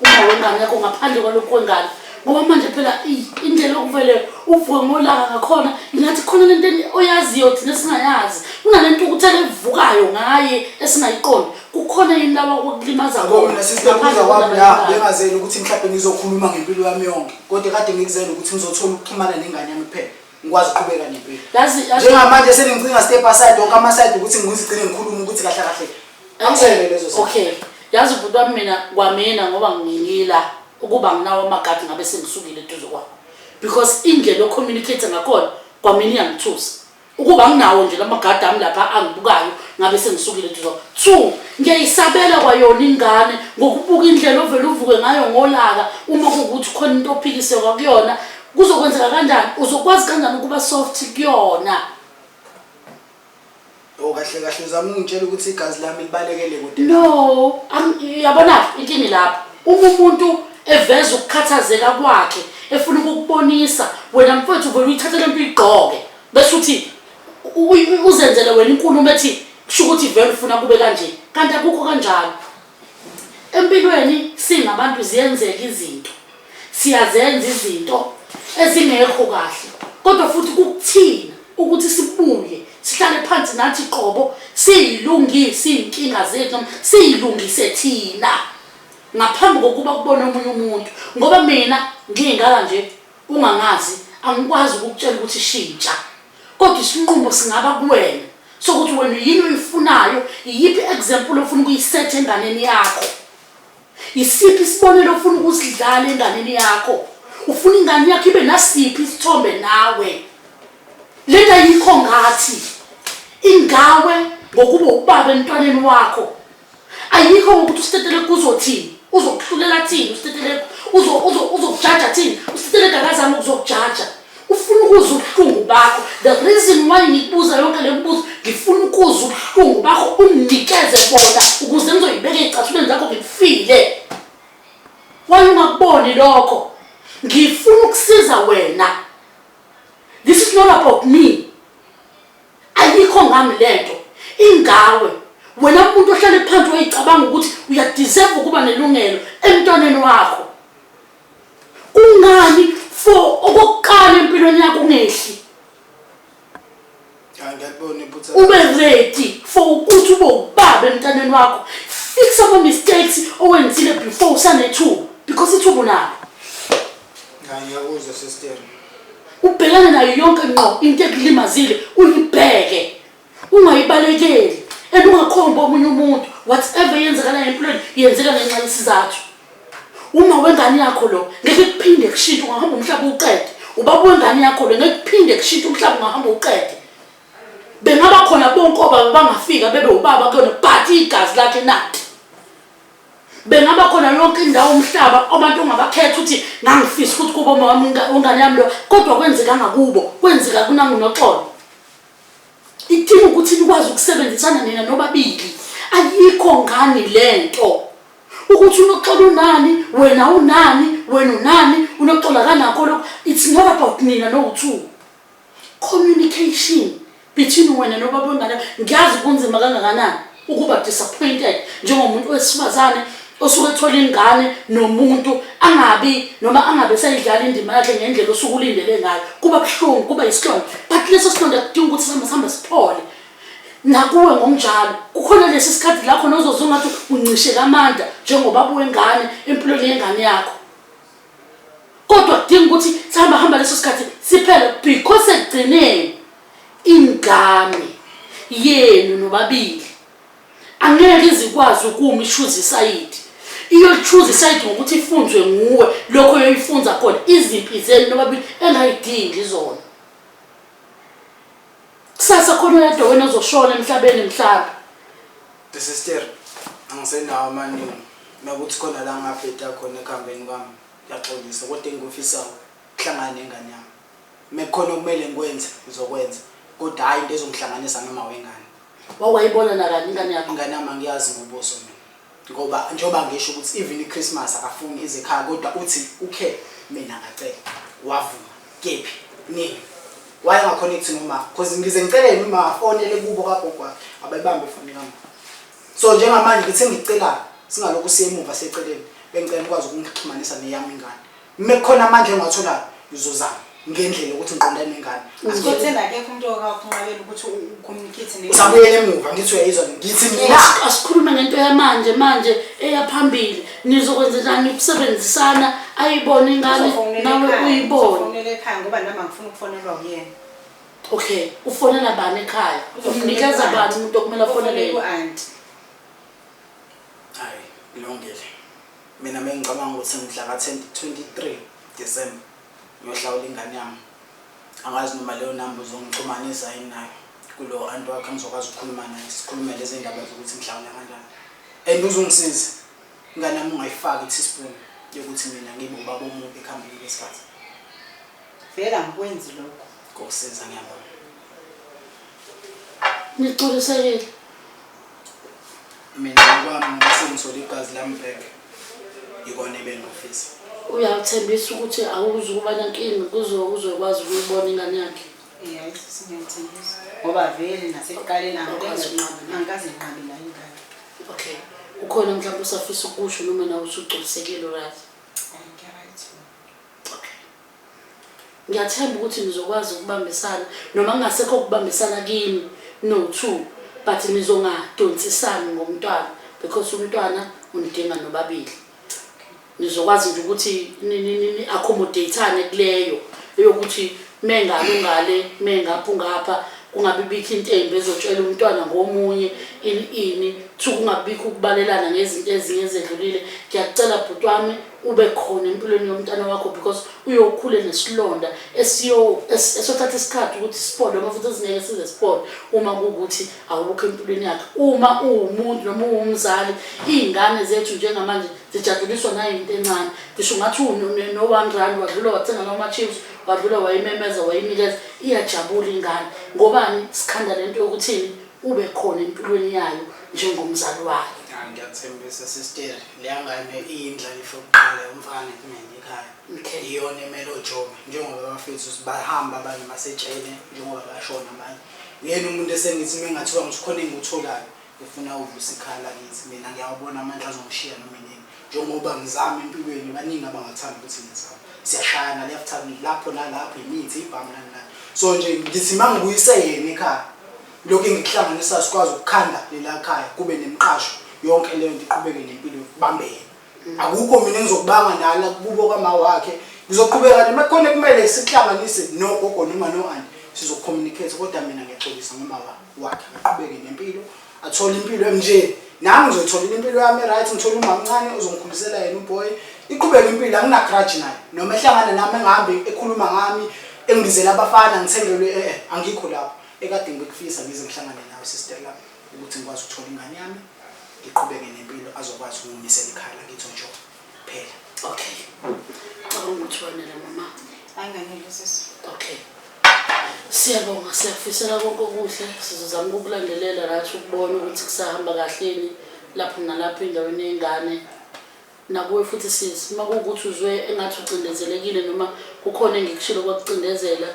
Uma wena ngekho ngaphandle kwalokhu kwengane ngoba manje phela indlela okuvele uvuke ngolaka ngakhona ingathi khona lento oyaziyo thina singayazi kunalento ukuthi alevukayo ngaye esingayiqondi kukhona yini laba okulimaza kona sisinabuza kwami la bengazeli ukuthi mhlawumbe ngizokhuluma ngempilo yami yonke kodwa kade ngikuzele ukuthi ngizothola ukuxhumana nengane yami kuphela ngikwazi ukuqhubeka nempilo njengamanje seningcinga step aside wonke amaside ukuthi ngizigcine ngikhulume ukuthi kahle kahle angisekele lezo zinto okay yazi ubhuti wami mina kwamina ngoba ngingila ukuba nginawo amagadi ngabe sengisukile eduze kwakho because indlela ocommunicate ngakhona kwamina iyangithusa ukuba nginawo nje lamagadi ami lapha angibukayo ngabe sengisukile eduze kwakho two ngiyayisabela kwayona ingane ngokubuka indlela ovele uvuke ngayo ngolaka uma kuwukuthi khona into ophikiseka kuyona kuzokwenzeka kanjani uzokwazi kanjani ukuba soft kuyona o oh, kahle kahle uzama ungitshela ukuthi igazi lami libalekele kude no yabona intini lapho uma umuntu eveza ukukhathazeka kwakhe efuna ukukubonisa wena mfowethu vele uyithathe lento uyigqoke bese uthi uzenzele wena inkulumo ethi kusho ukuthi vele ufuna kube kanje kanti akukho kanjalo Empilweni singabantu ziyenzeka izinto, siyazenza izinto ezingekho kahle kodwa futhi kukuthina ukuthi sibuye sihlale phansi nathi qobo siyilungise iy'nkinga zethu noma siyilungise thina ngaphambi kokuba kubone omunye umuntu ngoba mina ngiyingaka nje ungangazi angikwazi ukukutshela ukuthi shintsha kodwa isinqumo singaba kuwena sokuthi wena yini oyifunayo iyiphi example ofuna ukuyisetha enganeni yakho isiphi isibonelo ofuna ukusidlala enganeni yakho ufuna ingane yakho ibe nasiphi isithombe nawe lena yikho ngathi ingawe ngokuba ubaba emntwaneni wakho ayikho ngokuthi usitetelegu uzothini uzokuhlulela thini usitetelegu uzokujaja thini usitetelegu akazami ukuzokujaja ufuna ukuza ubuhlungu bakho the reason why ngibuza yonke le mibuzo ngifuna ukuza ubuhlungu bakho unginikeze bona ukuze ngizoyibeka ey'cathulweni zakho ngikufile waye ungakuboni lokho ngifuna ukusiza wena this is not about me ayikho ngami lento ingawe wena umuntu ohlale phansi uyicabanga ukuthi uyadeserve ukuba nelungelo emntwaneni wakho kungani for okokuqala empilweni yakho ungehli ube ready for ukuthi ube ubaba emntaneni wakho fix ama-mistakes owenzile before usanethuba because ithuba unalo Cha ngiyakuzwa sister. Ubhekane nayo yonke ngqo into ekulimazile uyibheke. Ungayibalekeli and ungakhombi omunye umuntu whatever yenzakalayo empilweni yenzeka ngenxa yesizathu. Uma wengane yakho lo ngeke kuphinde kushintshe ungahamba umhlaba uqede. Ubaba wengane yakho lo ngeke kuphinde kushintshe umhlaba ungahamba uqede. Bengaba khona bonke obaba bangafika bebe ubaba kuyona but igazi lakhe nathi. bengaba khona yonke indawo umhlaba abantu ongabakhetha ukuthi ngangifisa ukuthi kubo mama ungane yami lo kodwa kwenzeka ngakubo kwenzeka kunangunoxolo idinga ukuthi nikwazi ukusebenzisana nina nobabili ayikho ngani le nto ukuthi unoxolo unani wena unani wena unani unoxolo akanakho lokho it's not about nina no-two Communication between wena nobaba wengane ngiyazi kunzima kangakanani ukuba disappointed njengomuntu wesifazane osuke ethola ingane nomuntu angabi noma angabe sayidlala indima yakhe ngendlela osuke ulindele ngayo kuba buhlungu kuba yisilonda but leso silonda kudinga ukuthi sihamba sihambe siphole nakuwe ngokunjalo kukhona lesi sikhathi la khona ozoze ungathi uncishe kamandla njengobaba wengane empilweni yengane yakho kodwa kudinga ukuthi sihamba hamba leso sikhathi siphele because ekugcineni ingane yenu nobabili angeke izikwazi ukuma ishuza isayidi iyolichuza isayidi ngokuthi ifunzwe nguwe lokho yoyifunza khona izimpi zenu nobabili engayidingi zona Kusasa khona oyedwa wena ozoshona emhlabeni mhlaba. The sister angisenawo amaningi nakuthi khona la ngabheda khona ekuhambeni kwami ngiyaxolisa kodwa engikufisayo kuhlangana nengane yami mekukhona okumele ngikwenze ngizokwenza kodwa hhayi into ezongihlanganisa nomawengane wawayibona nakani ingane yakho ingane yami angiyazi ngobuso mina Ngoba njengoba ngisho ukuthi even iChristmas akafuni ize ekhaya kodwa uthi ukhe mina ngacela wavuma kephi nini why angaconnect nomafa because ngize ngicele yena uma afonele kubo kagogo wakhe abayibambe ifoni kama so njengamanje ngithe ngicela singalokhu siyemuva seceleni bengicela ukwazi ukungixhumanisa neyami ingane Uma kukhona amandla engiwatholayo ngizozama ngendlela ukuthi ngiqondane nengane. Asikotheni akekho umuntu okakunqabela ukuthi ucommunicate ne. Usabuyela emuva ngithi uyayizwa ngithi mina. Asikhulume ngento yamanje manje eyaphambili nizokwenza njani ukusebenzisana ayibone ingane nawe uyibone. Ufonele ekhaya ngoba nami angifuni ukufonelwa uyena. Okay, ufonela bani ekhaya? Umnikeza bani umuntu okumele afonele? Ufonele ku-auntie. Hayi, ilungile. Mina mengicabanga ukuthi mhla ka 23 December ngiyohlawula ingane yami angazi noma leyo number uzongixhumanisa yini nayo kulo anti wakho angizokwazi ukukhuluma naye sikhulume lezi ndaba zokuthi ngihlawula kanjani and uzungisiza ingane yami ungayifaki teaspoon yokuthi mina ngibe ubaba omubi ekuhambeni kwesikhathi vele angikwenzi lokho kokusiza ngiyabona nixolisekile mina ngokwami ngoba sengithole igazi lami back yikona ebengifisa uyawuthembisa ukuthi awuzi ukuba nankinga kuze uzokwazi ukuyibona ingane yakhe yes singethembisa ngoba vele nasekuqaleni angikaze nqabi la ingane okay ukhona mhlawumbe usafisa ukusho noma nawe usugculisekile right Ngiyathemba ukuthi nizokwazi ukubambisana noma kungasekho ukubambisana kini no two but nizongadonsisani ngomntwana because umntwana unidinga nobabili. Nizokwazi nje ukuthi ni-accommodatane kuleyo eyokuthi mengale ungale mengapha ungapha kungabibikho into embi ezotshela umntwana ngomunye ini ini two kungabibikho ukubalelana ngezinto ezinye ezedlulile. Ngiyakucela bhuti wami ube khona empilweni yomntana wakho because uyokhule nesilonda esiyothatha isikhathi ukuthi siphole uma futhi ezingeke size siphole uma kuwukuthi awukho empilweni yakhe uma uwumuntu noma uwumzali iy'ngane zethu njengamanje zijaduliswa nayinto encane ngisho ungathi no-one rand wadlula wathenga lama-chips wadlula wayimemeza wayinikeza iyajabula ingane ngobani sikhanda le nto yokuthini Ube khona empilweni yayo njengomzali wayo. Ah, ngiyakuthembisa sister leyangane iyindlalifa yokuqala yomfana kumina ekhaya Okay. iyona emele ojobe njengoba bafethu bahamba abanye basetshele njengoba bashona abanye uyena umuntu esengithi uma engathiwa ngithi khona engikutholayo ngifuna uvusa ikhala kithi mina ngiyawubona amandla azongishiya noma inini njengoba ngizama empilweni baningi abangathanda ukuthi ngizame siyashayana left time lapho nalapho imithi ibhamu nani nani so nje ngithi uma ngibuyise yena ekhaya lokhu engikuhlanganisa sikwazi ukukhanda lela khaya kube nemqasho yonke leyo nto iqhubeke nempilo yokubambe yena mm. akukho mina engizokubanga nala kubo kwama wakhe ngizoqhubeka nje uma khona kumele sihlanganise nogogo noma no-anti sizocommunicate kodwa mina ngiyaxolisa ngomama wakhe aqhubeke nempilo athole impilo emnjeni nami ngizotholela impilo yami right ngithole umamncane uzongikhulisela yena uboy iqhubeka impilo anginagradge naye noma ehlangana nami engihambe ekhuluma ngami engibizela abafana ngithengelwe eh, eh angikho lapho ekade ngikufisa ngize ngihlangane nawe sister lami ukuthi ngikwazi ukuthola ingane yami ngiqhubeke nempilo azokwazi ukungimisela ikhaya lakithi onjolo kuphela okay cabanga ukuthi wanele mama anganele sisi okay siyabonga siyakufisela konke okuhle sizozama ukukulandelela rathi ukubona ukuthi kusahamba kahleni lapho nalapho endaweni yengane nakuwe futhi sisi uma kuwukuthi uzwe engathi ucindezelekile noma kukhona engikushilo kwakucindezela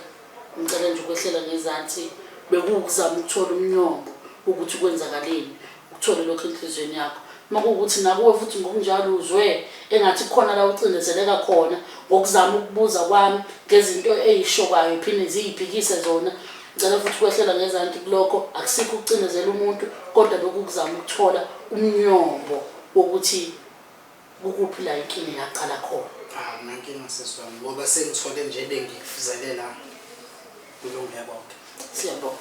ngicela nje ukwehlela ngezansi bekuwukuzama ukuthola umnyombo ukuthi kwenzakaleni Uthole lokho enhliziyweni yakho. Uma kuwukuthi nakuwe futhi ngokunjalo uzwe engathi khona la ucindezeleka khona ngokuzama ukubuza kwami ngezinto eyishokayo phinde ziyiphikise zona ngicela futhi ukwehlela ngezanti kulokho akusikho ukucindezela umuntu kodwa bekukuzama ukuthola umnyombo wokuthi Kukuphi la inkinga yaqala khona? Cha akunankinga sisi wami ngoba sengithole nje ebengikufuzelela kulunge konke. Siyabonga.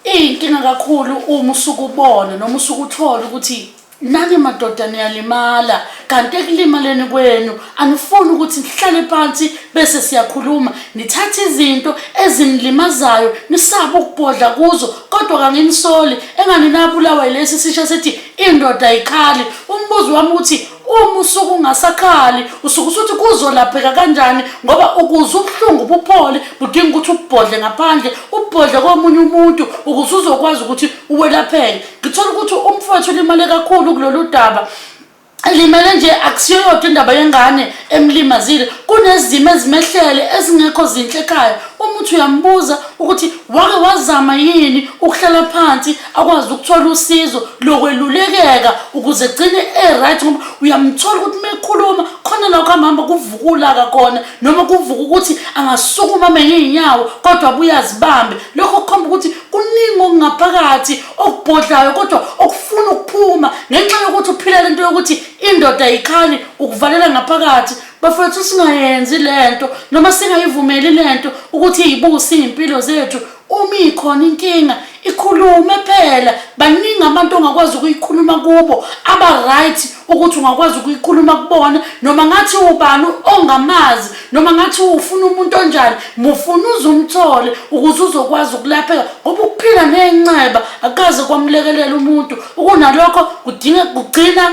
Iyinkinga kakhulu uma usuke ubona noma usuke uthola ukuthi nani madoda niyalimala kanti ekulimaleni kwenu anifuni ukuthi nihlale phansi bese siyakhuluma nithathe izinto ezinilimazayo nisaba ukubhodla kuzo kodwa kanginisoli engani nabulawa yilesi sisha sethi indoda ayikhali umbuzo wami ukuthi uma usuku ungasakhali usuke usuthi kuzolapheka kanjani ngoba ukuze ubuhlungu buphole budinga ukuthi ubhodle ngaphandle ubhodle komunye umuntu ukuze uzokwazi ukuthi uwelapheke ngithola ukuthi umfowethu ulimale kakhulu kulolu daba elimele nje akusiyo yodwa indaba yengane emlimazile kunezimo ezimehlele ezingekho zinhle ekhaya umuthi uyambuza ukuthi wake wazama yini ukuhlala phansi akwazi ukuthola usizo lokwelulekeka ukuze gcine e-right ngoba uyamthola ukuthi uma ekhuluma khona la kuhambahamba kuvuka ulaka kona noma kuvuka ukuthi angasukuma menye iy'nyawo kodwa buyazibambe lokho kukhomba ukuthi kuningi okungaphakathi okubhodlayo kodwa okufuna ukuphuma ngenxa yokuthi uphila lento yokuthi indoda ayikhali ukuvalela ngaphakathi bafowethu singayenzi lento noma singayivumeli lento ukuthi iyibuse iy'mpilo zethu uma ikhona inkinga ikhulume phela baningi abantu ongakwazi ukuyikhuluma kubo aba-right ukuthi ungakwazi ukuyikhuluma kubona noma ngathi ubani ongamazi noma ngathi ufuna umuntu onjani mufuna uze umthole ukuze uzokwazi ukulapheka ngoba ukuphila nenxeba akaze kwamlekelela umuntu ukunalokho kudinga kugcina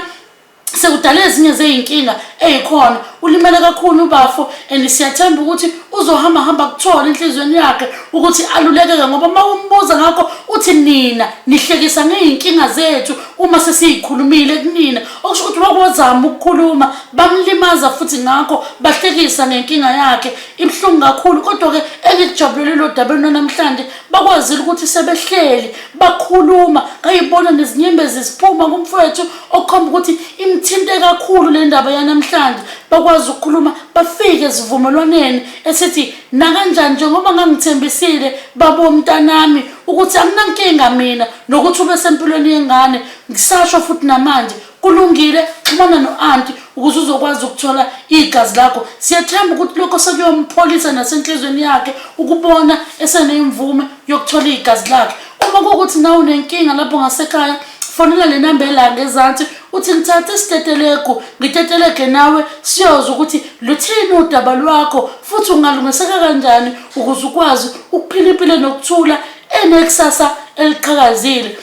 sekudala ezinye zeyinkinga eyikhona ulimele kakhulu ubafo and siyathemba ukuthi uzohamba hamba kuthola enhlizweni yakhe ukuthi alulekeke ngoba uma umbuza ngakho uthi nina nihlekisa ngeyinkinga zethu uma sesiyikhulumile kunina okusho ukuthi wakwazama ukukhuluma bamlimaza futhi ngakho bahlekisa ngenkinga yakhe ibuhlungu kakhulu kodwa-ke engikujabulele lo daba lunanamhlanje bakwazile ukuthi sebehleli bakhuluma ngayibona nezinyembezi ziphuma kumfowethu okukhomba ukuthi imthinte kakhulu le ndaba yanamhlanje bakwazi ukukhuluma bafike esivumelwaneni esithi nakanjani njengoba ngangithembisile babomntanami ukuthi anginankinga mina nokuthi ube sempilweni yengane ngisasho futhi namanje kulungile xhumana no-anti ukuze uzokwazi ukuthola igazi lakho siyathemba ukuthi lokho sekuyompholisa nasenhlizweni yakhe ukubona esenemvume yokuthola igazi lakhe uma kuwukuthi nawe unenkinga lapho ngasekhaya fonela le namba elanga ezansi uthi ngithathe isitetelegu ngitetelege nawe siyoza ukuthi luthini udaba lwakho futhi ungalungiseka kanjani ukuze ukwazi ukuphila impilo nokuthula enekusasa eliqhakazile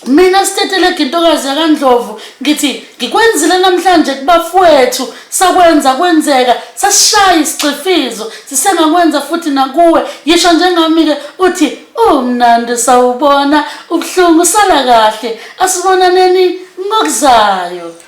mina sitetelege intokazi yakandlovu ngithi ngikwenzile namhlanje kubafowethu sakwenza kwenzeka sasishaya isicifizo sisengakwenza futhi nakuwe yisho njengami-ke uthi Umnandi sawubona ubuhlungu sala kahle asibonaneni ngokuzayo.